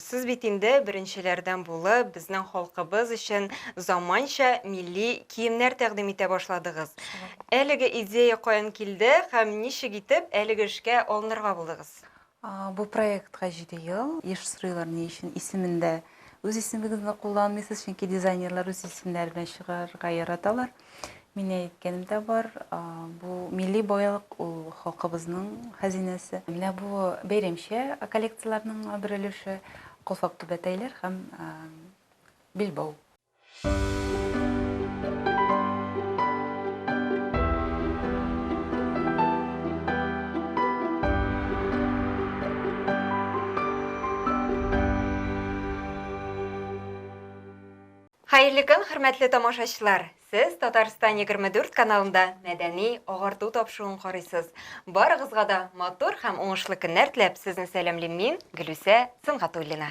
Сез бит инде беренчеләрдән булып безнең халкыбыз өчен заманча милли киемнәр тәкъдим итә башладыгыз. Әлеге идея каян килде һәм ничек итеп әлеге эшкә алынырга булдыгыз? Бу проектка җиде ел. Еш сорыйлар, ни өчен исемендә үз исемегезне кулланмыйсыз, чөнки дизайнерлар үз исемнәре белән чыгарырга яраталар. Мин әйткәнем дә бар, бу милли байлык, ул халкыбызның хәзинәсе. Менә бу бәйрәмчә коллекцияләрнең бер өлеше калфак түбәтәйләр һәм билбау. Хәерле көн, хөрмәтле тамашачылар! Сез Татарстан 24 каналында мәдәни агарту тапшыуын карыйсыз. Барыгызга да матур һәм уңышлы көннәр теләп, сезне сәламлим мин, Гөлүсә Сөнгатуллина.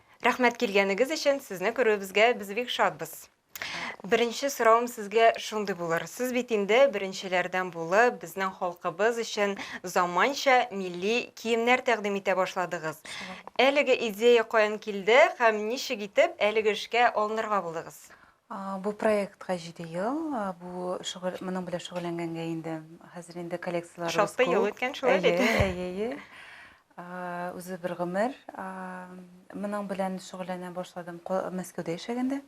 Рәхмәт килгәнегез өчен, сезне күрүебезгә без бик шатбыз. Беренче соравым сезгә шундый булыр. Сез бит инде беренчеләрдән булып, безнең халкыбыз өчен заманча милли киемнәр тәкъдим итә башладыгыз. Әлеге идея каян килде һәм ничек итеп әлеге эшкә алынырга булдыгыз? Бу проектка җиде ел, бу шөгыль, моның белән шөгыльләнгәнгә инде хәзер инде коллекцияләребез күп. Шактый ел үткән шулай бит. Әйе, әйе, әйе. Үзе бер гомер. Моның белән шөгыльләнә башладым Мәскәүдә яшәгәндә.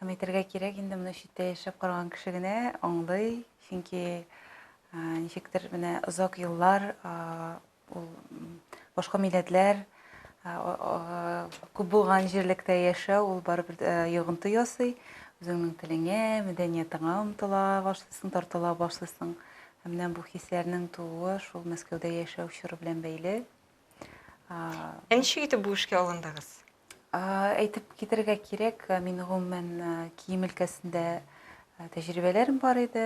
Һәм әйтергә кирәк, инде моны читтә яшәп караган кеше генә аңлый, чөнки ничектер менә озак еллар Ул башка милләтләр күп булган җирлектә яшәү, ул барыбер йогынты ясый. Үзеңнең телеңә, мәдәниятеңә омтыла башлыйсың, тартыла башлыйсың. Ә менә бу хисләрнең тууы шул Мәскәүдә яшәү чоры белән бәйле. Ә ничек итеп бу эшкә алындыгыз? Әйтеп китерергә кирәк, мин гомумән кием өлкәсендә тәҗрибәләрем бар иде,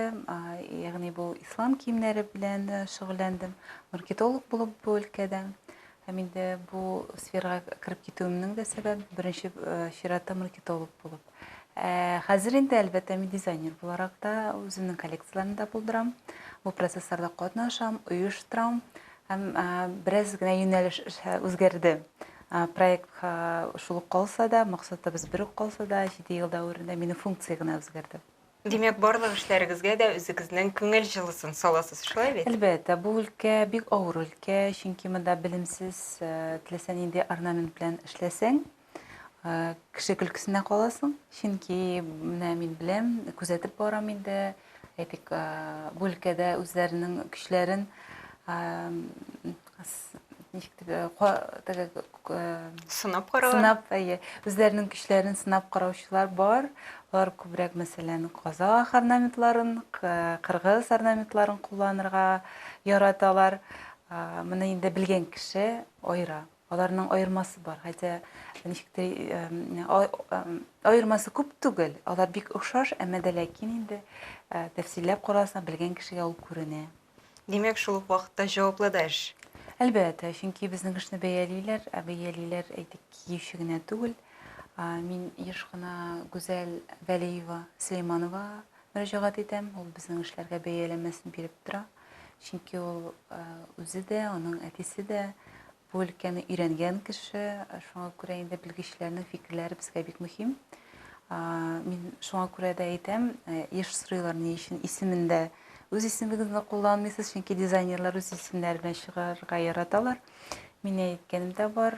ягъни бу ислам киемнәре белән шөгыльләндем, маркетолог булып бу өлкәдә. Һәм инде бу сферага кереп китүемнең дә сәбәбе беренче чиратта маркетолог булып. Хәзер инде әлбәттә мин дизайнер буларак та үземнең коллекцияләрне дә булдырам, бу процессларда катнашам, оештырам. Һәм бераз генә юнәлеш үзгәрде. Проект шул ук калса да, максатыбыз бер үк калса да, 7 ел дәверендә минем функция генә үзгәрде. Димәк, барлык эшләрегезгә дә үзегезнең күңел җылысын саласыз, шулай бит? Әлбәттә, бу өлкә бик авыр өлкә, чөнки монда белемсез, теләсә нинди орнамент белән эшләсәң, кеше көлкесенә каласың чөнки менә мин беләм күзәтеп барам инде әйтик бу өлкәдә үзләренең көчләрен ничек дип сынап каралар сынап әйе үзләренең көчләрен сынап караучылар бар алар күбрәк мәсәлән казах орнаментларын кыргыз орнаментларын кулланырга яраталар моны инде белгән кеше аера Аларның аермасы бар, хәтта ничек тә аермасы күп түгел. Алар бик охшаш, әмма дә ләкин инде тәфсилләп карасаң, белгән кешегә ул күренә. Димәк, шул ук вакытта җаваплы да эш. Әлбәттә, чөнки безнең эшне бәялиләр, ә бәялиләр, әйтик, киюче генә түгел. Мин еш кына Гүзәл Вәлиева Сөләйманова мөрәҗәгать итәм, ул безнең эшләргә бәяләмәсен биреп тора. Чөнки ул үзе дә, аның әтисе дә бу өлкәне өйрәнгән кеше, шуңа күрә инде белгечләрнең фикерләре безгә бик мөһим. Мин шуңа күрә дә әйтәм, еш сорыйлар ни өчен исемендә үз исемегезне кулланмыйсыз, чөнки дизайнерлар үз исемнәре белән чыгарырга яраталар. Мин әйткәнем дә бар,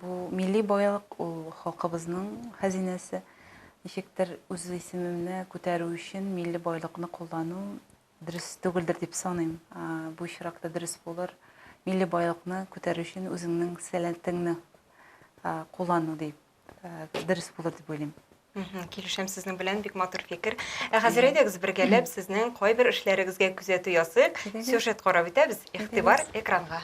бу милли байлык, ул халкыбызның хәзинәсе. Ничектер үз исемемне күтәрү өчен милли байлыкны куллану Дөрес түгелдер дип саныйм. Бу очракта дөрес булыр милли байлыкны күтәрү өчен үзеңнең сәләтеңне куллану дип дөрес булыр дип уйлыйм. Килешәм сезнең белән, бик матур фикер. Ә хәзер әйдәгез бергәләп сезнең кайбер эшләрегезгә күзәтү ясыйк. Сюжет карап үтәбез. Игътибар экранга.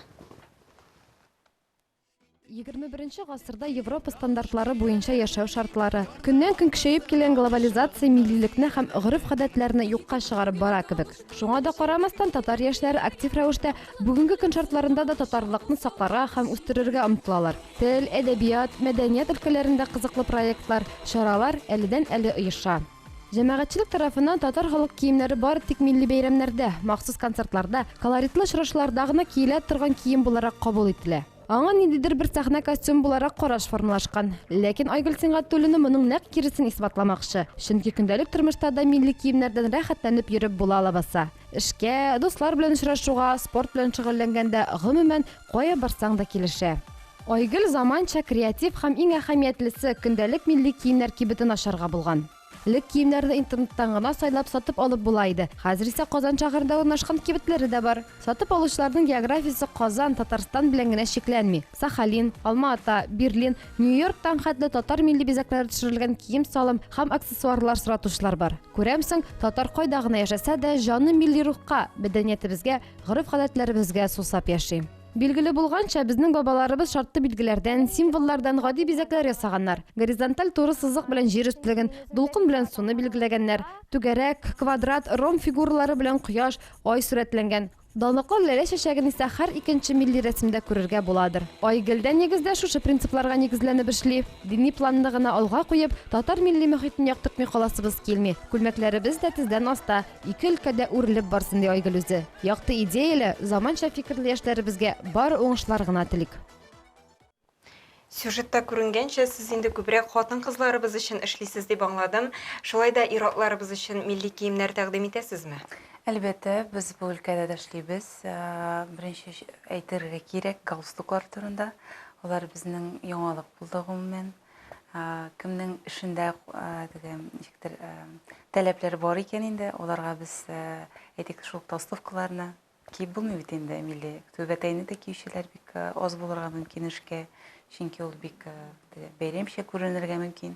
Егерме беренче гасырда Европа стандартлары буенча яшәү шартлары, көннән-көн көчәеп килгән глобализация миллилекне һәм гореф-гадәтләрне юкка чыгарып бара кебек. Шуңа да карамастан, татар яшьләре актив рәвештә бүгенге көн шартларында да татарлыкны сакларга һәм үстерергә омтылалар. Тел, әдәбият, мәдәният өлкәләрендә кызыклы проектлар, чаралар әледән-әле оеша. Җәмәгатьчелек тарафыннан татар халык киемнәре бары тик милли бәйрәмнәрдә, махсус концертларда, колоритлы очрашуларда гына киелә торган кием буларак кабул ителә. Аңа ниндидер бер сәхнә костюмы буларак караш формалашкан. Ләкин Айгөл Сингатуллина моның нәкъ киресен исбатламакчы. Чөнки көндәлек тормышта да милли киемнәрдән рәхәтләнеп йөреп була лабаса. Эшкә, дуслар белән очрашуга, спорт белән шөгыльләнгәндә, гомумән, кая барсаң да килешә. Айгөл заманча, креатив һәм иң әһәмиятлесе, көндәлек милли киемнәр кибетен ачарга булган. Элек киемнәрне интернеттан гына сайлап сатып алып була иде, хәзер исә Казан шәһәрендә урнашкан кибетләре дә бар. Сатып алучыларның географиясе Казан, Татарстан белән генә чикләнми, Сахалин, Алма-Ата, Берлин, Нью-Йорктан хәтле татар милли бизәкләре төшерелгән кием-салым һәм аксессуарлар соратучылар бар. Күрәмсең, татар кайда гына яшәсә дә, җаны милли рухка, мәдәниятебезгә, гореф-гадәтләребезгә сусап яши. Билгеле булганча, безнең бабаларыбыз шартлы билгеләрдән, символлардан гади бизәкләр ясаганнар. Горизонталь туры сызык белән җир өстлеген, дулкын белән суны билгеләгәннәр. Түгәрәк, квадрат, ромб фигуралары белән кояш, ай сурәтләнгән. Данлыклы ләлә чәчәген исә һәр икенче милли рәсемдә күрергә буладыр. Ай гел дә нигездә шушы принципларга нигезләнеп эшли. Дини планны гына алга куеп, татар милли мохитен яктыртмый каласыбыз килми. Күлмәкләребез дә тездән аста. Ике өлкәдә үрелеп барсын, ди Айгөл үзе. Якты идеяле, заманча фикерле яшьләребезгә бары уңышлар гына телик. Сюжетта күренгәнчә, сез инде күбрәк хатын-кызларыбыз өчен эшлисез дип аңладым. Шулай да ир-атларыбыз өчен милли киемнәр тәкъдим итәсезме? Әлбәттә, без бу өлкәдә дә эшлибез. Беренче әйтергә кирәк галстуклар турында. Алар безнең яңалык булды, гомумән. кемнең эшендә теге ничектер таләпләр бар икән инде аларга без әйтик шул толстовкаларны киеп булмый бит инде милли түбәтәйне дә киючеләр бик аз булырга мөмкин эшкә чөнки ул бик бәйрәмчә күренергә мөмкин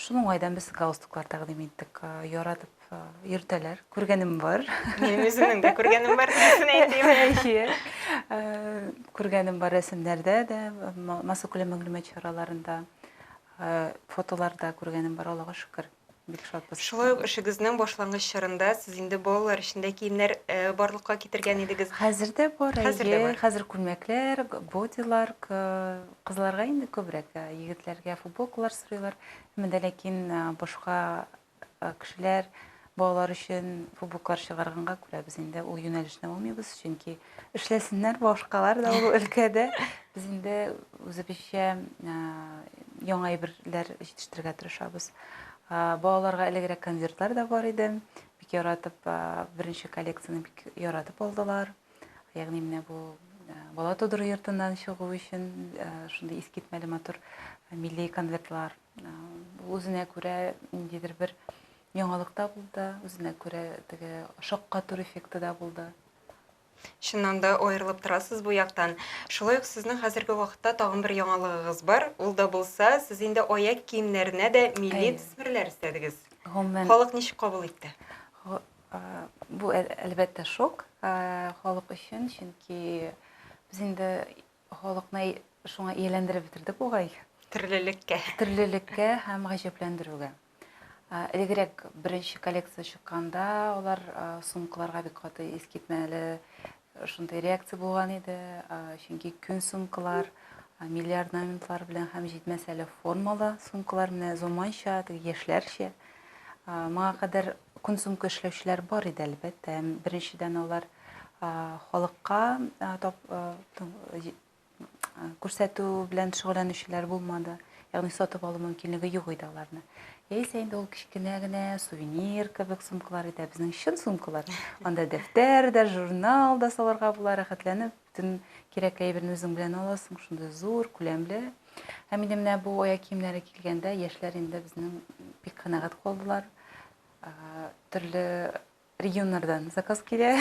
шуның уңайдан без галстуклар тәкъдим иттек яратып йөртәләр, күргәнем бар. Мин үземнең дә күргәнем бар дигән әйтим. Күргәнем бар рәсемнәрдә дә, массакүләм мәгълүмат чараларында, фотоларда күргәнем бар, Аллага шөкер. Бик шатбыз. Шулай ук эшегезнең башлангыч чорында сез инде балалар өчен дә киемнәр барлыкка китергән идегез. Хәзер дә бар, әйе. Хәзер күлмәкләр, бодилар, кызларга инде күбрәк, егетләргә футболкалар сорыйлар. Менә ләкин башка э, кешеләр балалар өчен фубуклар чыгарганга күрә без инде ул юнәлешне алмыйбыз, чөнки эшләсеннәр башкалар да ул өлкәдә. Без инде үзебезчә э, яңа әйберләр җитештерергә тырышабыз. Э, балаларга элегрәк конвертлар да бар иде. Бик яратып, э, беренче коллекцияне бик яратып алдылар. Ягъни менә бу Э, бала тудыру йортыннан чыгу өчен э, шундый искитмәле матур э, милли конвертлар Үзенә күрә ниндидер бер яңалык та булды, үзенә күрә теге шаккату эффекты да булды. Чыннан да аерылып торасыз бу яктан. Шулай ук сезнең хәзерге вакытта тагын бер яңалыгыгыз бар. Ул да булса, сез инде аяк киемнәренә дә милли төсмерләр өстәдегез. Гомумән. Халык ничек кабул итте? Бу әлбәттә шок халык өчен, чөнки без инде Халыкны шуңа ияләндереп бетердек бугай. Төрлелеккә. Төрлелеккә һәм гаҗәпләндерүгә. Элегрәк беренче коллекция чыкканда алар сумкаларга бик каты искитмәле шундый реакция булган иде. Чөнки күн сумкалар милли орнаментлар белән һәм җитмәсә әле формалы сумкалар менә заманча, яшьләрчә. Моңа кадәр консумка эшләүчеләр бар иде, әлбәттә. Беренчедән алар халыкка күрсәтү белән шөгыльләнүчеләр булмады. Ягъни сатып алу мөмкинлеге юк иде аларны. Яисә инде ул кечкенә генә сувенир кебек сумкалар иде, безнең чын сумкалар. Анда дәфтәр дә, журнал да салырга була, рәхәтләнеп. Бөтен кирәк әйберне үзең белән аласың, шундый зур, күләмле. Һәм инде менә бу аяк киемнәре килгәндә яшьләр инде безнең бик канәгать калдылар. Төрле регионнардан заказ килә.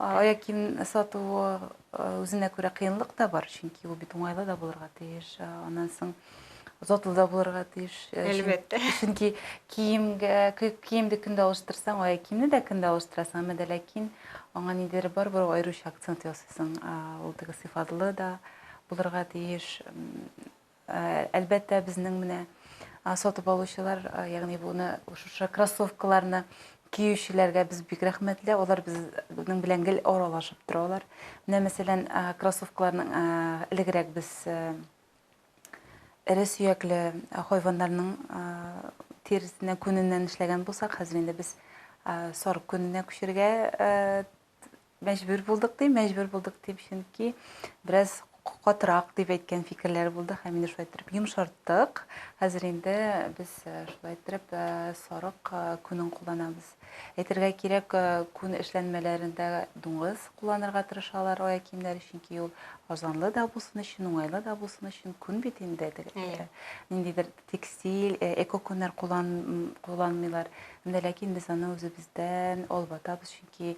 Аяк кием сату үзенә күрә кыенлык та бар, чөнки ул бит уңайлы да булырга тиеш. Аннан соң затлы да булырга тиеш. Э, Әлбәттә. Чөнки киемгә, киемде көн дә алыштырсаң, ай киемне дә көн дә алыштырасың, әмма дә ләкин аңа ниндидер бар бер аеруча акцент ясыйсың. Ул теге сыйфатлы да булырга тиеш. Э, әлбәттә, безнең менә сатып алучылар, э, ягъни буны шушы кроссовкаларны киючеләргә без бик рәхмәтле. Алар безнең белән гел аралашып торалар. Менә мәсәлән, кроссовкаларның элегрәк без Эре сөякле хайваннарның тиресеннән, күненнән эшләгән булсак, хәзер инде без сарык күненә күчергә мәҗбүр булдык дим, мәҗбүр булдык дим, чөнки бераз катырак дип әйткән фикерләр булды һәм инде шулай иттереп йомшарттык. Хәзер инде без шулай иттереп сарык күнен кулланабыз. Әйтергә кирәк, күн эшләнмәләрендә дуңгыз кулланырга тырышалар аяк киемнәре, чөнки ул азанлы да булсын өчен, уңайлы да булсын өчен күн бит инде. Әйе. Ниндидер текстиль, экокүннәр кулланмыйлар. Менә ләкин без аны үзебездән алып атабыз, чөнки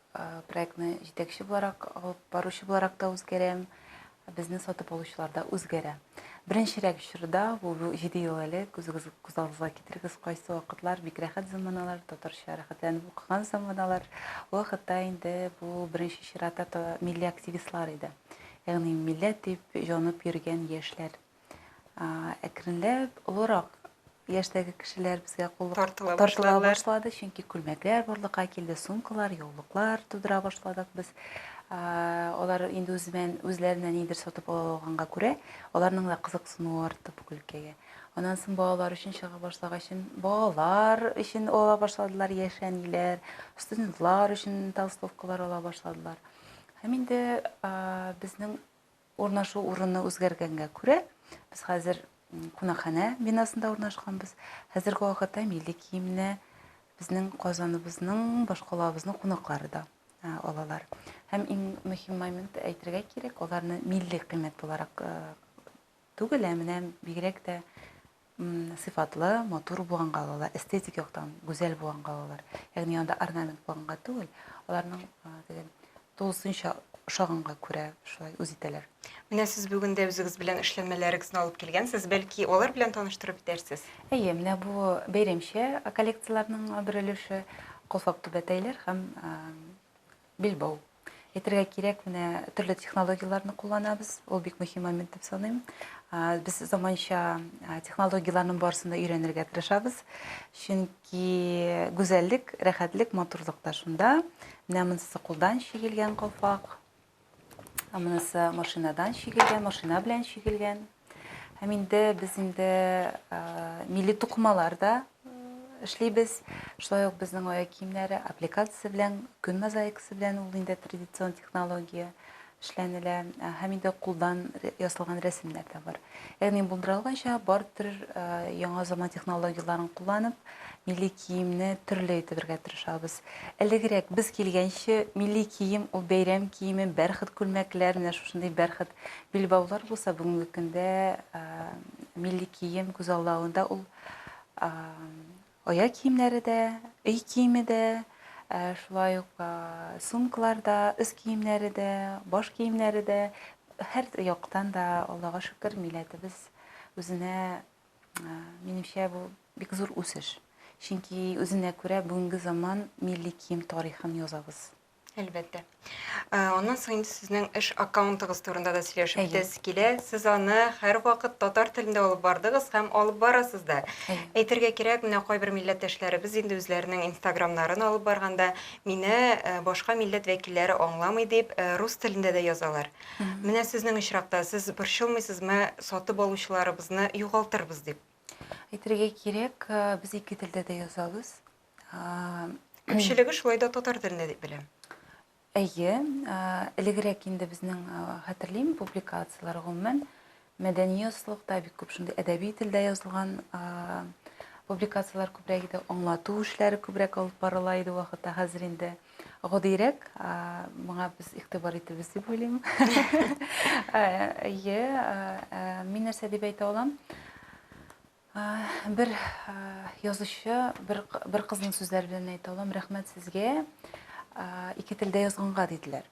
Проектны җитәкче буларак, алып баручы буларак та үзгәрәм. Безне сатып алучылар да үзгәрә. Беренчерәк чорда, бу җиде ел элек, үзегез күз алдыгызга китерегез, кайсы вакытлар, бик рәхәт заманалар, татарча рәхәтләнеп укыган заманалар. Ул вакытта инде бу беренче чиратта милли активистлар иде. Ягъни милләт дип җанып йөргән яшьләр. әкренләп олырак яшьтәге кешеләр безгә куллык тартыла, тартыла башлады, чөнки күлмәкләр барлыкка килде, сумкалар, яулыклар тудыра башладык без. Алар инде үзеннән үзләренә нидер сатып ала алганга күрә, аларның да кызыксынуы артты бу күлкәгә. Аннан соң балалар өчен чыга башлагач, балалар өчен ала башладылар яшәниләр, студентлар өчен толстовкалар ала башладылар. Һәм инде безнең Урнашу урыны үзгәргәнгә күрә, без хәзер кунакханә бинасында урнашканбыз. Хәзерге вакытта милли киемне безнең Казаныбызның, башкалабызның кунаклары да алалар. Һәм иң мөһим момент әйтергә кирәк, аларны милли кыйммәт буларак түгел, ә менә бигрәк тә сыйфатлы, матур булган калалар, эстетик яктан гүзәл булган калалар. Ягъни анда орнамент булганга түгел, аларның дигән тулысынча ошаганга күрә шулай үз итәләр. Менә сез бүген дә үзегез белән эшләнмәләрегезне алып килгәнсез, бәлки алар белән таныштырып итәрсез? Әйе, менә бу бәйрәмчә коллекцияләрнең бер өлеше Колфак түбәтәйләр һәм Билбау әйтергә кирәк, менә төрле технологияләрне кулланабыз. Ул бик мөһим момент дип саныйм. Без заманча технологияләрнең барысын да өйрәнергә тырышабыз. Чөнки гүзәллек, рәхәтлек, матурлык та шунда. Менә монысы кулдан чигелгән калфак. Монысы машинадан чигелгән, машина белән чигелгән. Һәм инде без инде милли тукымалар да эшлибез. Шулай ук безнең аяк киемнәре аппликация белән, күн мозаикасы белән ул инде традицион технология эшләнелә. Һәм инде кулдан ясалган рәсемнәр дә бар. Ягъни булдырылганча бар төр яңа заман технологияләрен кулланып, милли киемне төрле итәргә тырышабыз. Элегрәк без килгәнче милли кием ул бәйрәм киеме, бәрхет күлмәкләр, менә шушындый бәрхет Билбаулар булса бүгенге көндә милли кием күз алдында ул аяк киемнәре дә, өй киеме дә, шулай ук сумкалар да, үз киемнәре дә, баш киемнәре дә һәр яктан да Аллага шөкер милләтебез үзенә минемчә бу бик зур үсеш. Чөнки үзенә күрә бүгенге заман милли кием тарихын язабыз. Әлбәттә. Э, аннан соң инде сезнең эш аккаунтыгыз турында да сөйләшеп үтәсе килә. Сез аны һәрвакыт татар телендә алып бардыгыз һәм алып барасыз да. Әйтергә кирәк, менә кайбер милләттәшләребез инде үзләренең инстаграмнарын алып барганда, мине э, башка милләт вәкилләре аңламый дип, э, рус телендә дә язалар. Менә сезнең очракта сез борчылмыйсызмы, сатып алучыларыбызны югалтырбыз дип? Әйтергә кирәк, без ике телдә дә язабыз. Күпчелеге шулай да татар телендә дип беләм. Әйе, элегрәк инде безнең хәтерлим публикацияләр гомумән мәдәни ясылыкта бик күп шундый әдәби телдә язылган публикацияләр күбрәк иде, аңлату эшләре күбрәк алып барыла иде вакытта, хәзер инде гадирәк, моңа без игътибар итәбез дип уйлыйм. Әйе, мин нәрсә дип әйтә алам? Бер язучы, бер, бер кызның сүзләре белән әйтә алам, рәхмәт сезгә, ике телдә язганга диделәр.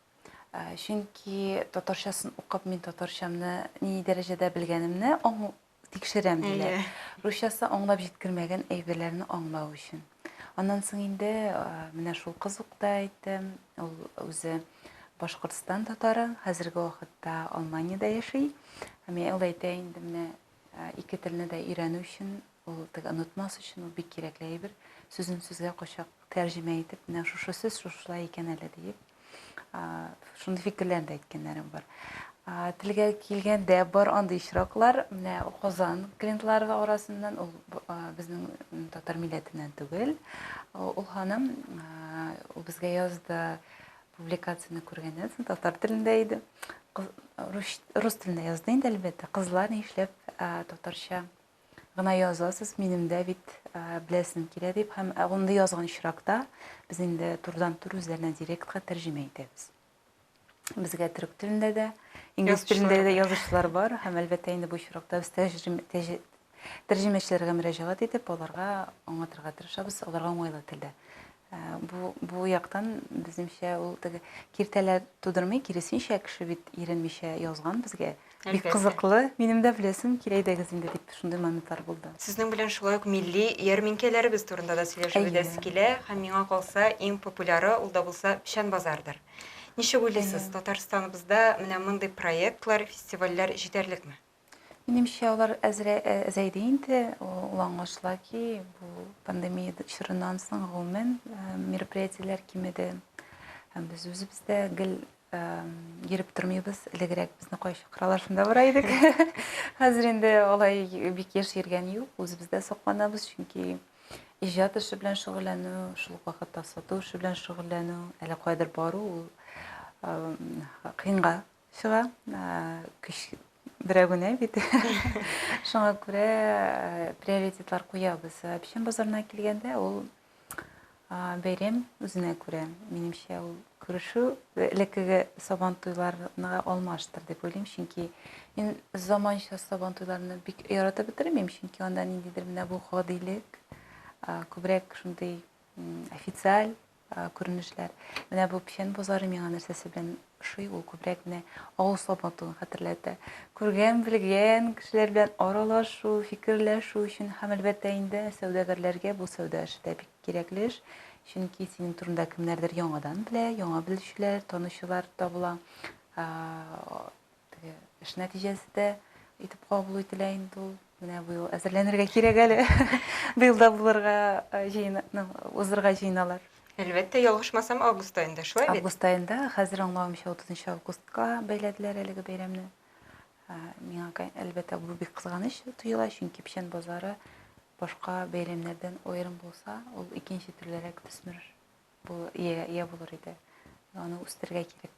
Чөнки татарчасын укып мин татарчамны ни дәрәҗәдә белгәнемне тикшерәм диләр. Русчасы аңлап җиткермәгән әйберләрне аңлау өчен. Аннан соң инде менә шул кыз ук та әйтте, ул үзе Башкортстан татары, хәзерге вакытта Алманиядә яши. Һәм ул әйтә инде менә Ә, ике телне дә өйрәнү өчен, ул теге онытмас өчен ул бик кирәкле әйбер. Сүзен сүзгә кочак тәрҗемә итеп, менә шушы сүз шушылай икән әле диеп, а, шундый фикерләрне дә әйткәннәрем бар. А, телгә килгәндә бар андый очраклар, менә Казан клиентлары арасыннан ул а, безнең татар милләтеннән түгел. Ул ханым а, ул безгә язды, Публикацияне күргәннән соң татар телендә иде. Рус, рус телендә язды инде әлбәттә. Кызлар ни эшләп татарча гына язасыз, минем дә бит беләсем килә дип һәм анда язган очракта без инде турыдан тур үзләренә директка тәрҗемә итәбез. Безгә төрек телендә дә, инглиз телендә дә язучылар бар һәм әлбәттә инде бу очракта без тәрҗемәчеләргә мөрәҗәгать итеп, аларга аңлатырга тырышабыз, аларга уңайлы телдә. Бу, бу яктан, безнемчә, ул теге киртәләр тудырмый, киресенчә, кеше бит иренмичә язган безгә. Бик кызыклы. Минем дә беләсем килә идегез инде дип шундый моментлар булды. Сезнең белән шулай ук милли ярминкәләребез турында да сөйләшеп үтәсе килә. Һәм миңа калса, иң популяры ул да булса печән базардыр. Ничек уйлыйсыз, Татарстаныбызда менә мондый проектлар, фестивальләр җитәрлекме? Минемчә, алар әзрә- ә- әзәйде инде. Ул аңлашыла ки, бу пандемия д- чорыннан соң, гомумән, э, мероприятиеләр кимеде. Һәм без үзебез дә гел э, йөреп тормыйбыз. Элегрәк безне кая чакыралар, шунда бара идек. Хәзер инде алай бик еш йөргән юк. Үзебез дә сакланабыз, чөнки иҗат эше белән шөгыльләнү, шул ук вакытта сату эше белән шөгыльләнү, әллә каядыр бару ул э, кыенга чыга. Көч берәү генә бит. Шуңа күрә приоритетлар куябыз. Печән базарына килгәндә, ул бәйрәм үзенә күрә. Минемчә, ул күрешү элеккеге сабан туйларына алмаштыр дип уйлыйм, чөнки мин заманча сабан туйларны бик яратып бетермим, чөнки анда ниндидер менә бу гадилек, күбрәк шундый официаль күренешләр. Менә бу печән бозары миңа нәрсәсе белән ошый, ул күбрәк менә авыл сабатуын хәтерләтә. Күргән, белгән кешеләр белән аралашу, фикерләшү өчен һәм әлбәттә инде сәүдәгәрләргә бу сәүдә эше дә бик кирәкле эш. Чөнки синең турында кемнәрдер яңадан белә, яңа белүчеләр, танучылар табыла. Теге эш нәтиҗәсе дә итеп кабул ителә инде ул. Менә быел әзерләнергә кирәк әле. Быел да булырга э, җыена, ну, узырга җыеналар. Әлбәттә, ялгышмасам, август айында, шулай бит? Август айында, хәзер аңлавымча 30 августка бәйләделәр әлеге бәйрәмне. Ә, Миңа, кай- әлбәттә, бу бик кызганыч тоела, чөнки печән базары башка бәйрәмнәрдән аерым булса, ул икенче төрлерәк төсмер бу иягә ия булыр иде. Аны үстерергә кирәк.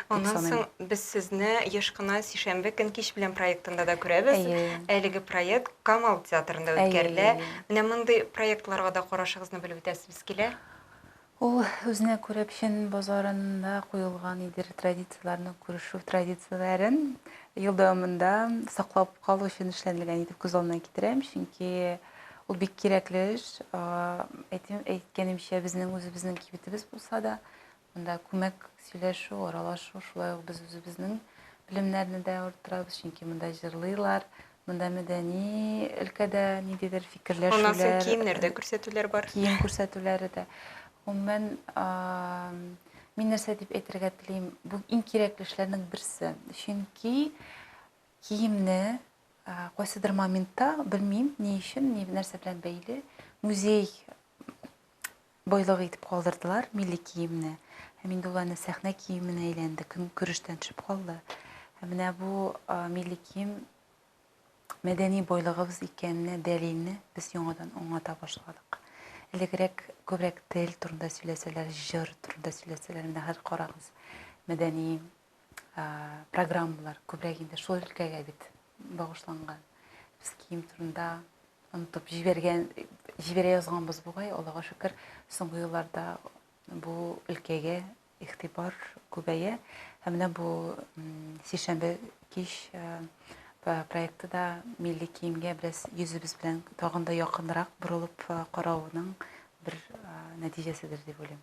Аннан соң без сезне еш кына сишәмбе көн кич белән проектында да күрәбез. Әлеге проект Камал театрында үткәрелә. Менә мондый проектларга да карашыгызны белеп үтәсебез килә. Ул үзенә күрә печән базарында куелган идер традицияләрне, күрешү традицияләрен ел дәвамында саклап калу өчен эшләнелгән итеп күз алдына китерәм, чөнки Ул бик кирәкле эш. Әйтим, әйткәнемчә, безнең үзебезнең кибетебез булса да, монда күмәк сөйләшү, аралашу, шулай ук без үзебезнең белемнәрне дә арттырабыз, чөнки монда җырлыйлар, монда мәдәни өлкәдә ниндидер фикерләшүләр. Моннан соң киемнәр дә күрсәтүләр бар. Кием күрсәтүләре дә. Гомумән, мин нәрсә дип әйтергә телим, бу иң кирәкле эшләрнең берсе. Чөнки киемне Кайсыдыр моментта, белмим, ни өчен, ни нәрсә белән бәйле, музей байлыгы итеп калдырдылар милли киемне. Һәм инде ул аны сәхнә киеменә әйләнде, көнкүрештән төшеп калды. Һәм менә бу милли кием мәдәни байлыгыбыз икәненә дәлилне без яңадан аңлата башладык. Элегрәк күбрәк тел турында сөйләсәләр, җыр турында сөйләсәләр, менә хәзер карагыз, мәдәни программалар күбрәк инде шул өлкәгә бит багышланган. Без кием турында онытып җибәргән, җибәрә язганбыз бугай, Аллага шөкер, соңгы елларда бу өлкәгә игътибар күбәя. Һәм менә бу сишәмбе кич проекты да милли киемгә бераз йөзебез белән тагын да якынрак борылып карауның бер нәтиҗәседер дип уйлыйм.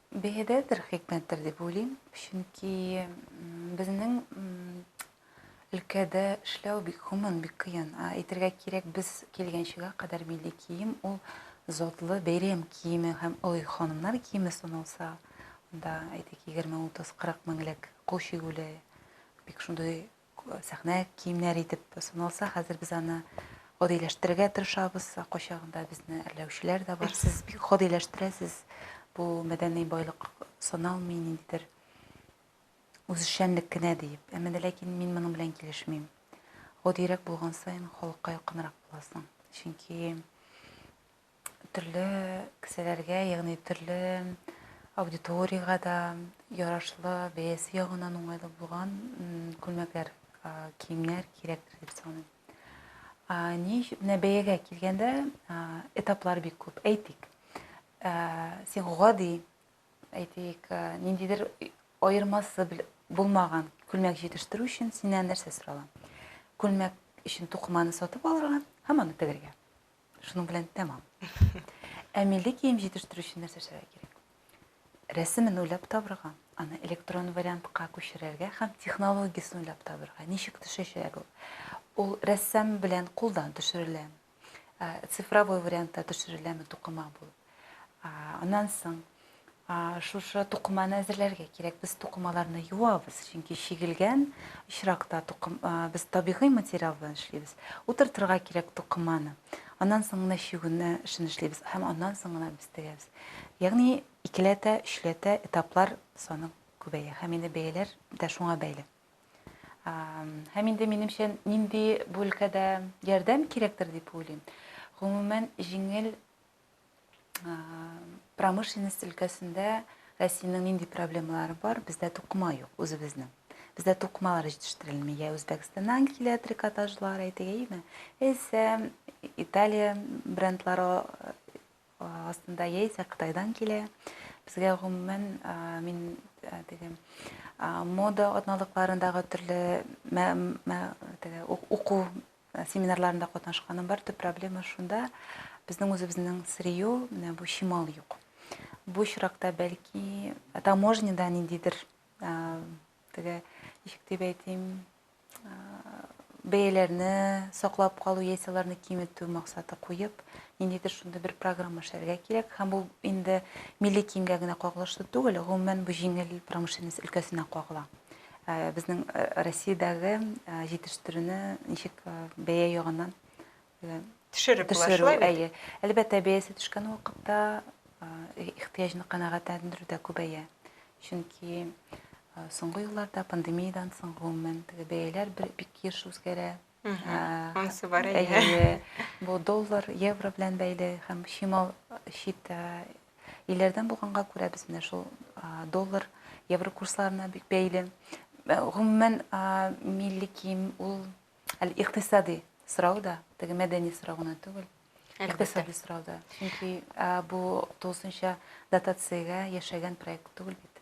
Биредәдер, хикмәттер дип уйлыйм, чөнки безнең өлкәдә эшләү бик гомум, бик кыен. Ә әйтергә кирәк, без килгәнчегә кадәр милли кием ул затлы бәйрәм киеме һәм олы ханымнар киеме саналса, анда әйтик 20, 30, 40 меңлек кул чигүле бик шундый сәхнә киемнәре итеп саналса, хәзер без аны гадиләштерергә тырышабыз. Кайчагында безне әрләүчеләр дә бар. Сез бик гадиләштерәсез. Бу мәдәни байлык саналмый, ниндидер үзешчәнлек кенә диеп. Әмма дә ләкин мин моның белән килешмим. Гадирәк булган саен халыкка якынрак буласың. Чөнки төрле кесәләргә, ягъни төрле аудиториягә дә ярашлы, бәясе ягыннан уңайлы булган күлмәкләр, киемнәр кирәктер дип саныйм. Ни менә бәягә килгәндә, этаплар бик күп. Әйтик, син гади, әйтик, ниндидер аермасы булмаган күлмәк җитештерү өчен синнән нәрсә сорала? Күлмәк өчен тукыманы сатып алырга һәм аны тегергә. Шуның белән тәмам. Ә милли кием җитештерү өчен нәрсә эшләргә кирәк? Рәсемен уйлап табырга, аны электрон вариантка күчерергә һәм технологиясен уйлап табырга. Ничек төшәчәк ул? Ул рәссам белән кулдан төшерелә. Цифровой вариантта төшереләме тукыма булып? Аннан соң шушы тукыманы әзерләргә кирәк. Без тукымаларны юабыз, чөнки чигелгән очракта тукым без табигый материал белән эшлибез. Утыртырга кирәк тукыманы. Аннан соң гына чигүне эшен эшлибез һәм аннан соң гына без тегәбез. Ягъни икеләтә, өчләтә этаплар саны күбәя һәм инде бәяләр дә шуңа бәйле. Һәм инде минемчә нинди бүлкәдә ярдәм кирәктер дип уйлыйм. Гомумән, җиңел промышленность өлкәсендә Россиянең нинди проблемалары бар? Бездә тукыма юк үзебезнең. Бездә тукымалар җитештерелми. Я Үзбәкстаннан килә трикотажлар, әйтегәйме? Яисә Италия брендлары астында, яисә Кытайдан килә. Безгә гомумән мин теге мода атналыкларындагы төрле уку Семинарларында катнашканым бар. Төп проблема шунда, безнең үзебезнең сырье, менә бу чимал юк. Бу очракта бәлки таможняда ниндидер теге ничек дип әйтим, бәяләрне саклап калу яисә аларны киметү максаты куеп, ниндидер шундый бер программа эшләргә кирәк. Һәм бу инде милли киемгә генә кагылышлы түгел, гомумән бу җиңел промышленность өлкәсенә кагыла. Э, безнең э, россиядәге э, җитештерүне ничек бәя ягыннан төшереп була әйе әлбәттә бәясе төшкән вакытта ихтыяҗны канәгатьләндерү дә күбәя чөнки соңгы елларда пандемиядән соң гомумән теге бәяләр бик еш үзгәрә Анысы бар әйе. Бу доллар, евро белән бәйле һәм чимал чит илләрдән булганга күрә без менә шул доллар, евро курсларына бик бәйле. Гомумән милли кием ул икътисади сорау да, теге мәдәни сорау гына түгел. Икътисади сорау да. Чөнки бу тулысынча дотациягә яшәгән проект түгел бит.